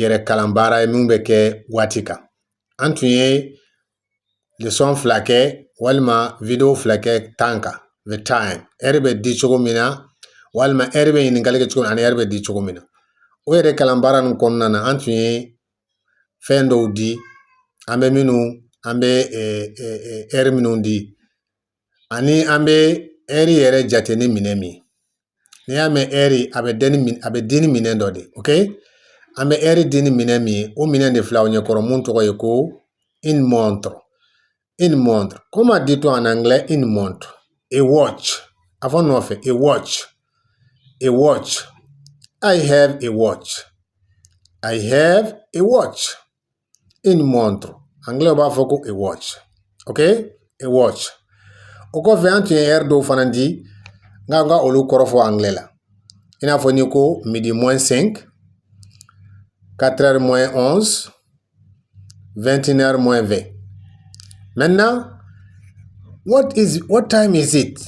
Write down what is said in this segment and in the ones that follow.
yɛrɛ kalan baara ye min bɛ kɛ waati kan an tun ye lesɔn fila kɛ walima video fila kɛ tan kan the time ɛri bɛ di cogo min na walima ɛri bɛ ɲininkali kɛ cogo ani ɛri bɛ di cogo min na o yɛrɛ kalan baara ninnu kɔnɔna na an tun ye fɛn dɔw di an bɛ minnu an bɛ ɛri minnu di ani an bɛ ɛri yɛrɛ jate ni minɛn min n'i y'a mɛn ɛri a bɛ di ni minɛn dɔ de ok an bɛ ɛri di ni minɛn min ye o minɛn de filɛ aw ɲɛkɔrɔ mun tɔgɔ ye ko une montre une montre comment dit-on en anglais une montre a watch a fɔ nɔfɛ a watch a watch i have a watch i have a watch une montre anglais u b'a fɔ ko a watch ok a watch o kɔfɛ an tun ye ɛri dɔw fana di n k'an ka olu kɔrɔ fɔ angilɛ la i n'a fɔ n'i ko midi moins 5 4 heures moins 11 21 heures moins 20 maintenant what time is it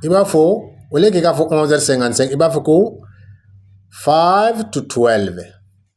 i b'a fɔ au lieu k'i k'a fɔ 11 heures 55 i b'a fɔ ko 5 to 12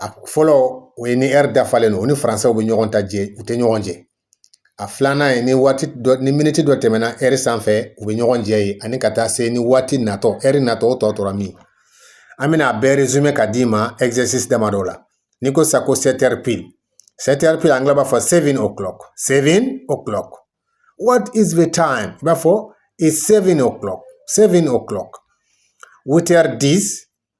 a fɔlɔ o ye ni ɛri dafalen don o ni faransɛ bɛ ɲɔgɔn ta jɛ u tɛ ɲɔgɔn jɛ a filanan ye ni waati dɔ ni miniti dɔ tɛmɛna ɛri sanfɛ u bɛ ɲɔgɔn jɛ ye ani ka taa se ni waati natɔ ɛri natɔ o tɔ tora min an bɛna a bɛɛ résumé ka d'i ma exercice damadɔ la n'i ko sa ko sept heures pile sept heures pile angilɛ b'a fɔ seven o'clock seven o'clock what is the time i b'a fɔ it's seven o'clock seven o'clock huit heures dix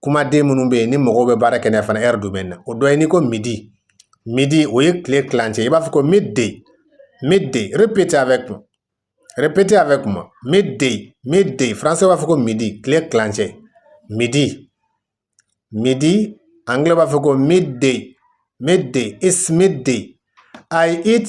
kumaden minnu bɛ yen ni mɔgɔw bɛ baara kɛ n'a fana ɛri domaine na o dɔ ye n'i ko midi midi o ye tile tilancɛ i b'a fɔ ko midday midday répétez avec moi répétez avec moi midday midday faransɛ b'a fɔ ko midi tile tilancɛ midi midi angilɛ b'a fɔ ko midday midday it's midday i eat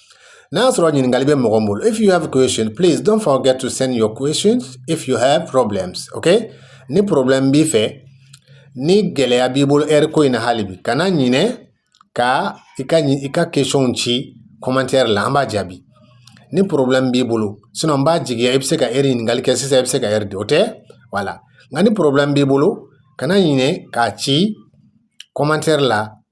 N'a sɔrɔ ɲininkali bɛ mɔgɔ bolo, if you have a question, please don't forget to send your questions if you have problems, okay? Ni problème b'i fɛ, ni gɛlɛya b'i bolo ɛri ko in na hali bi, kana ɲinɛ ka i ka question ci commentaire la, an b'a jaabi. Ni problème b'i bolo, sinon n b'a jigiya i bɛ se ka ɛri ɲininkali kɛ sisan i bɛ se ka ɛri di, o tɛ? Voilà. Nka ni problème b'i bolo, kana ɲinɛ k'a ci commentaire la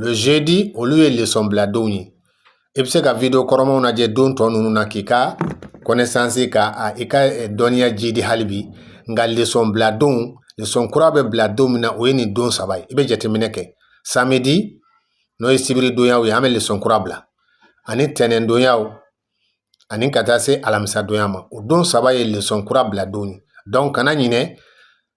le jeudi olu ye lesɔnbiladonw ye i bɛ se ka video kɔrɔmaw lajɛ don tɔ ninnu na k'i ka connaissance ka i ka dɔnniya jiidi hali bi nka lesɔnbiladonw lesɔn kura bɛ bila don min na o ye nin don saba ye i bɛ jateminɛ kɛ samedi n'o ye sibiridonyaw ye an bɛ lesɔn kura bila ani tɛnɛndonyaw ani ka taa se alamisadonya ma o don saba ye lesɔn kura biladonw ye donc kana ɲin